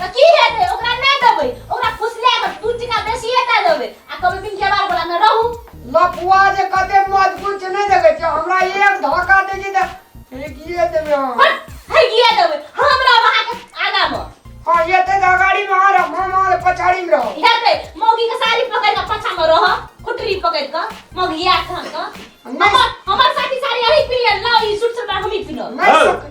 तऽ की हेतै ओकरा नहि देबै ओकरा फुसला कऽ दू टीका बेसी एटा देबै आ कहबै बिन केबार वाला मे रहू लपुआ जे कते मजबूत छै नहि देखै छियै हमरा एक धक्का दै छै तऽ फेकिए देबै अहाँ हट हगिए देबै हम रहब अहाँके आगा मे हँ एते तऽ अगाड़ी में आ रहब हम अहाँ पछाड़ी में रहब हेतै मौगी के साड़ी पकड़ कऽ पाछा मे रह खुटरी पकड़ कऽ मौगी आयत अहाँके नहि। हमर हमर साथी साड़ी अही पिन्हल लाउ ई सूट सलवार हमही पिन्हब नहि हँ। सक-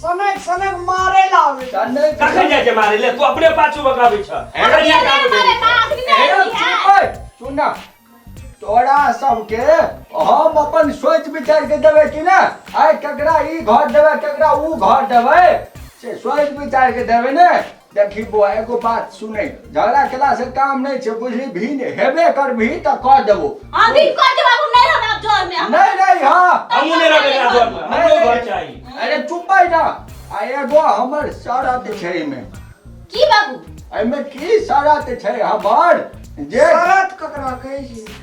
सनक सनक मारे ला आवे कखन जाइ छै मारे ले तू अपने पाछू बकाबै छ अरे ये काम अरे करै बा, आखिरी में ए, आखिरी है। चुप है, सुन ना तोरा सबके हम अपन सोच विचार के देवे कि ना आय ककरा ई घर देवे ककरा ऊ घर देवे से सोच विचार के देवे ने देखी बौआ एगो बात सुने झगड़ा केला से काम नहीं छे बुझली भी ने हेबे कर भी त कह देबो हम भी कर देब हम नहीं रहब आप जोर में नहीं नहीं हां हम नहीं रहब एकरा जोर में हमरो घर चाही अरे चुप भाई ना आ एगो हमर सारा ते छै में की बाबू एमे की सारा ते छै हमर जे सारा ककरा कहै छी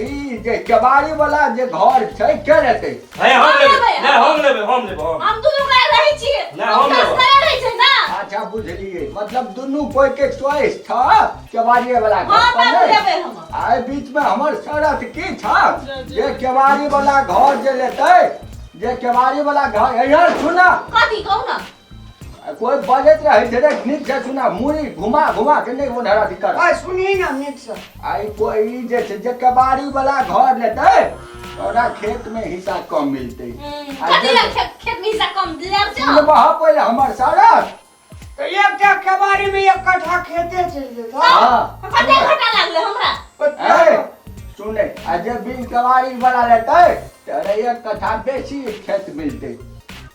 ई जे केबाड़ी वाला जे घर छै के लेतै है हम हम लेबै लेबै, ना हम लेबै हम लेबै हम हम दुनू गोरा रहै छियै ना, हम हम लेबै। तस्करे रहै छै ना अच्छा बुझलियै मतलब दुनू कोई के चॉइस छ केबाड़ी वाला घर हाँ, पर बाबू नै? लेबै हम। आइ बीच में हमर शरत की छ जे केबाड़ी वाला घर जे लेतै जे केबाड़ी वाला घर यार सुना कथी कहू ना कोई बजे रे है जरे निक जे सुना मुड़ी घुमा घुमा के नहीं होन हरा दिक्कत आ सुनी ना निक से आई कोई जे से जे कबाड़ी वाला घर लेते तोरा खेत में हिस्सा कम मिलते कथी ला खेत खेत में हिस्सा कम ले जाओ ये बहा पहले हमर सारा तो एक टा कबाड़ी में एक कट्ठा खेते चल देता हां कते घटा लागले हमरा ए सुने आ जे बिन कबाड़ी वाला लेते तोरा एक कट्ठा बेसी खेत मिलते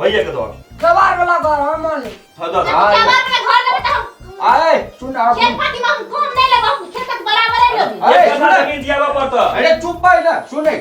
भैया के दो कबाड़ वाला घर हम मान ले हाँ दो हाँ, क्या बात में घर लेबे त हम आए सुन आ खेत पाती में हम कम नहीं लेबे हम खेत के बराबर है लोग अरे, एक सुना। जमीन जियावा पर तो अरे चुप भाई ना सुने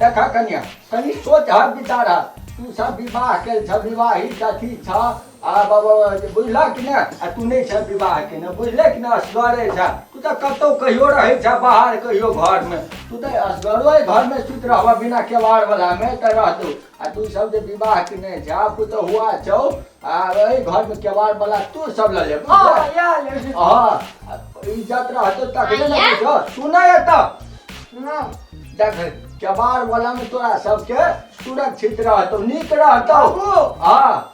देखा कन्या कनी सोच हा विचार हा तू सब विवाह के छ विवाहित कथी छ आ बाबा बुझला कि ना आ तू नहीं छ विवाह के ना बुझले कि ना असगरे छ तू तो कतौ कहियो रहे छ बाहर कहियो घर में तू तो असगरो है घर में सुत रहबा बिना केवाड़ वाला में तो रह तू आ तू सब जे विवाह किने छै आ पुतहुआ छौ आ ओहि घर में केवाड़ वाला तू सब ल लेब हाँ या ले हां इज्जत रहतो तखने ने आइया। बुझो तू नहीं एत ना देख केवाड़ वाला में तोरा सबके सुरक्षित रहतो नीक रहतो बाबू हां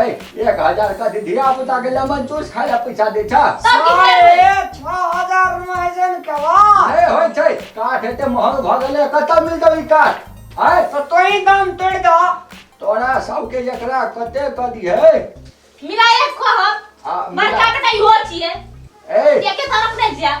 ए एक हजार का दीदी आप उता के लेमन जूस खाए ला पैसा दे छा सब किछ ले लेबै। साढ़े छह हजार में ऐसन केवा ए होय छै काठ एते महंग भ गेले कत मिल जाई काठ आय तो तोही दाम तोड़ दा तोरा सबके एकरा कते क दिए मिलाइए कहब आ, बड़का मिला- कटाई हो छिए ए एके तरफ नहीं जाए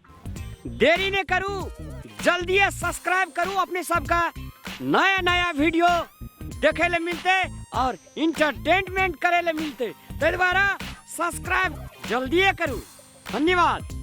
देरी ने करू जल्दी सब्सक्राइब करू अपने सबका नया नया वीडियो देखे ले मिलते और इंटरटेनमेंट करे ले मिलते ताहि दुआरे सब्सक्राइब जल्दी करू धन्यवाद